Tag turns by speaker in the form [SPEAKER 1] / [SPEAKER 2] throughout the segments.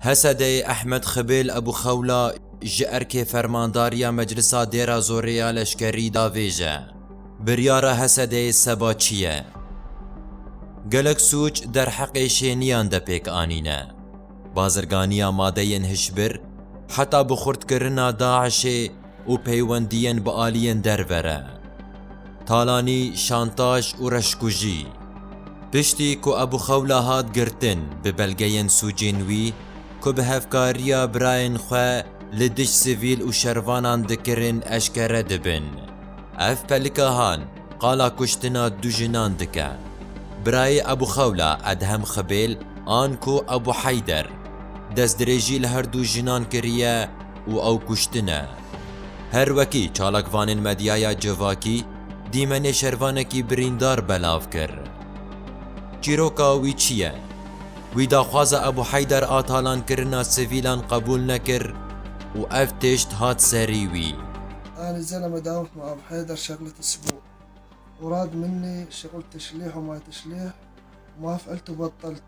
[SPEAKER 1] Hesedeyê Ehmed Xibêl Ebû Xewla ji erkê fermandariya Meclisa Dêra Zorê ya Leşkerî da vêje. Biryara Hesedeyê seba çi ye? Gelek sûc derheqê şêniyan de pêk anîne. Bazirganiya madeyên hişbir, heta bi xurtkirina DAIŞ'ê, û peywendiyên bi aliyên derve re, talanî, şantaj û reşkujî. Piştî ku Ebû Xewla hat girtin bi belgeyên sûcên wî ku bi hevkariya birayên xwe li dij sivîl û şervanan dikirin eşkere dibin. Ev Pelikahan qala kuştina du jinan dike. Birayê Ebû Xewla Edhem Xibêl an ku Ebû Heyder, destdirêjî li her du jinan kiriye, û ew kuştine. Her wekî çalakvanên medyaya civakî dîmenê şervanekî birîndar belav kir. Çîroka wî çi ye? Wî daxwaza Ebû Heydar a talankirina sivîlan qebûl nekir û ev tişt hat serî wî. Alî Zeleme
[SPEAKER 2] dawît ma Ebû Heydar şexleti sibû. Murad Minnî şexlti şilîh û ma tişlîh û maf elt û bat telt.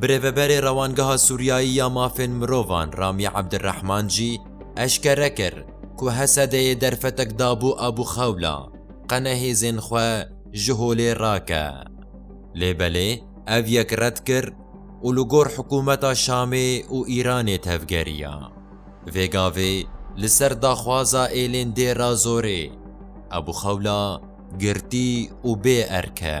[SPEAKER 2] Birêveberê
[SPEAKER 1] Rewangeha Sûriyayî ya Mafên Mirovan Ramî Ebdirehman jî eşkere kir ku Hesedeyê derfetek dabû Abu Xewla qene hêzên xwe ji holê rake. Lê belê ev yek red kir û li gor hikûmeta Şamê û Îranê tevgeriya. Vê gavê li ser daxwaza êlên Dêra Zorê, Abu Xewla girtî û bê erk e.